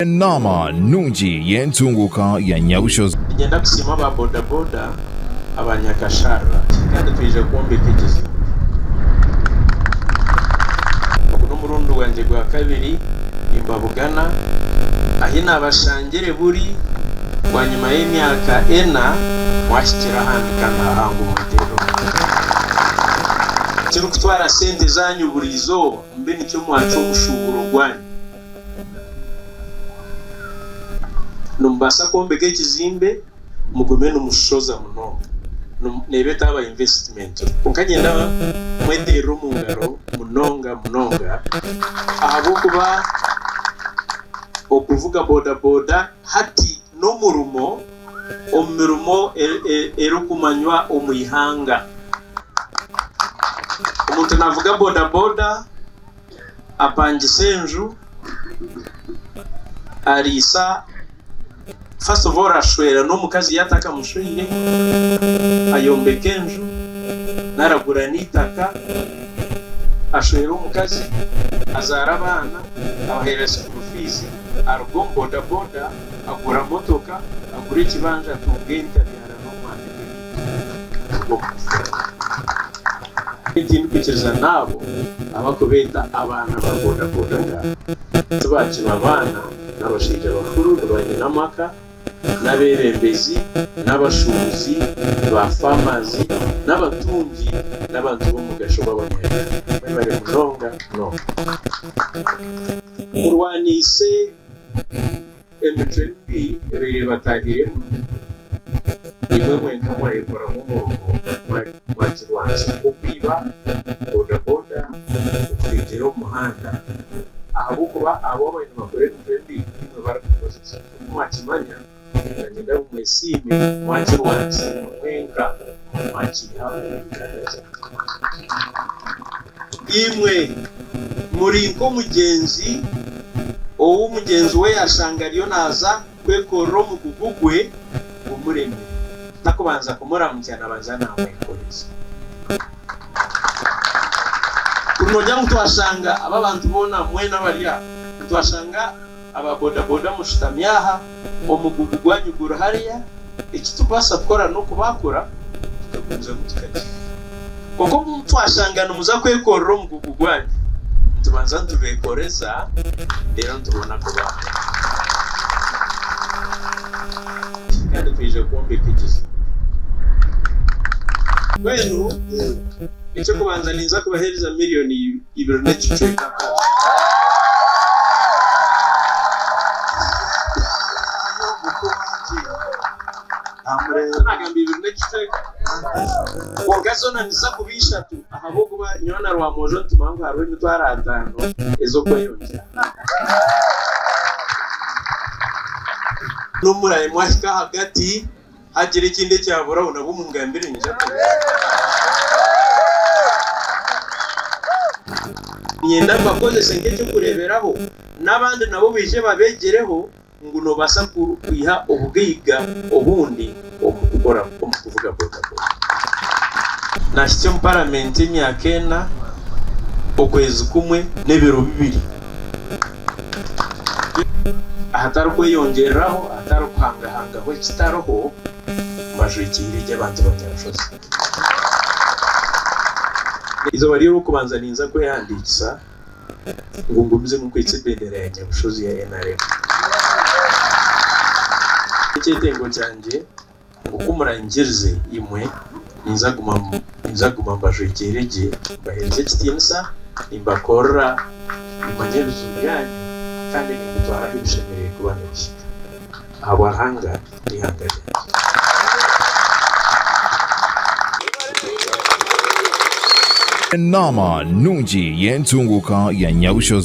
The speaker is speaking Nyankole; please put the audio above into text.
Enaama nungi y'entunguuka ya Nyabushozi. Ninyenda kusiima aba bodaboda abanyakasharara kandi twije kwombeka ekizimbe. Ogu n'omurundi gwangye gwa kabiri nimbabugana. Ahi naabashangire buri bwanyima y'emyaka ena mwahikire ahandi kandi hahangwe mweterere omukono. Ekirikutwara sente zaanyu buri izooba mbe nikyo mwacwa omushuuburo gwanyu. Nimubaasa kwombeka ekizimbe mugume nimushoza munonga neeba etaaba investment kwonka niinyenda mweteerere omu ngaro munonga munonga ahabw'okuba okuvuga bodaboda hati n'omurimo omu mirimo erikumanywa omu ihanga. Omuntu naavuga bodaboda. apangisa enju ariisa first of all ashwera n'omukazi yatakamushweire ayombeka enju nari agura n'eitaaka ashwera omukazi azaara abaana abaheera school fees aruga omu bodaboda agura motooka agura ekibanja atunga ente abyara n'omwana bw'okumusharira. Nyowe tindikwikiriza n'abo abarikubeeta abaana ba bodaboda ngu tibakiri abaana, n'abashaija bakuru, ni banyina amaka, n'abeebembezi, n'abashuubuzi, ba faamaazi, n'abatungi, n'abantu b'omugasho b'abanyabigaro. Mwebare munonga munonga kurwaniise. Emicwe mibi ebaire ebataahiiremu, niimwe mwenka mwayekoramu omuruho mwagirwanisa nk'okwiba, bodaboda, okurengyera omu muhanda ahabw'okuba abo ababaire nibakora emicwe mibi niimwe barikukozesa. Nk'oku mwakimanya, ndanyenda ngu mwesiime mwagirwanisa imwe mwenka mwagiiha omu biganda bya Mukama. Imwe muri nk'omugyenzi ou mugyenzi we yaashanga ariyo naaza kwekorera omugugu gwe gumureme, takubanza kumuramukya naabanza naamwekoreza. Kuri noogira ngu twashanga aba bantu boona, mwena abari aha, nitwashanga. Aba bodaboda mushutami aha, omugugu gwanyu guri hariya, eki turikubaasa kukora n'okubaakura tukagumizamu tukagihayo. Kwonka obu twashanga nimuza kwekorera omugugu gwanyu, nitubanza nitubeekoreza reero nitubona kubaakura. Kandi twija kwombeka ekizimbe. Mbwenu eky'okubanza ninza kubaheereza miriyoni. Iwe n'ekicwekako. Kwonka zoona niziza kuba ishatu ahabw'okuba nyowe na Rwamwojo nitumanya ngu hariho emitwaro ataano ez'okweyongyera. N'omuraimwe ahika ahagati Hagira ekindi ekyaburaho nabwo mungambire ningira niinyenda mbakozese nk'eky'okureeberaho n'abandi nabo baije babegyereho ngu noobaasa kwiha obugaiga obundi omu kukora omu kuvuga bodaboda. Naahitsya omu paramenti emyaka ena, okwezi kumwe n'ebiro bibiri. Ahatari kweyongyereraho, ahatari kuhangahangaho ekitariho, mbaju egi eri ey'abantu ba Nyarushozi. Eizooba ry'Orwokubanza ninza kwehandiikisa ngu ngumizemu kwitsa ebendera ya Nyabushozi ya NRM. Ekyetengo kyangye Nk'oku muranyikirize, imwe, ninza kuguma ninza kuguma mbajwekyeire gye, mbaheereze ekitiinisa, nimbakorera, nimanya ebiju byanyu, kandi nimbitwara ahu bishemereire kuba nibihika, ahabwa Ruhanga, n'eihanga ryangye. Enaama nungi y'entunguuka ya Nyabushozi.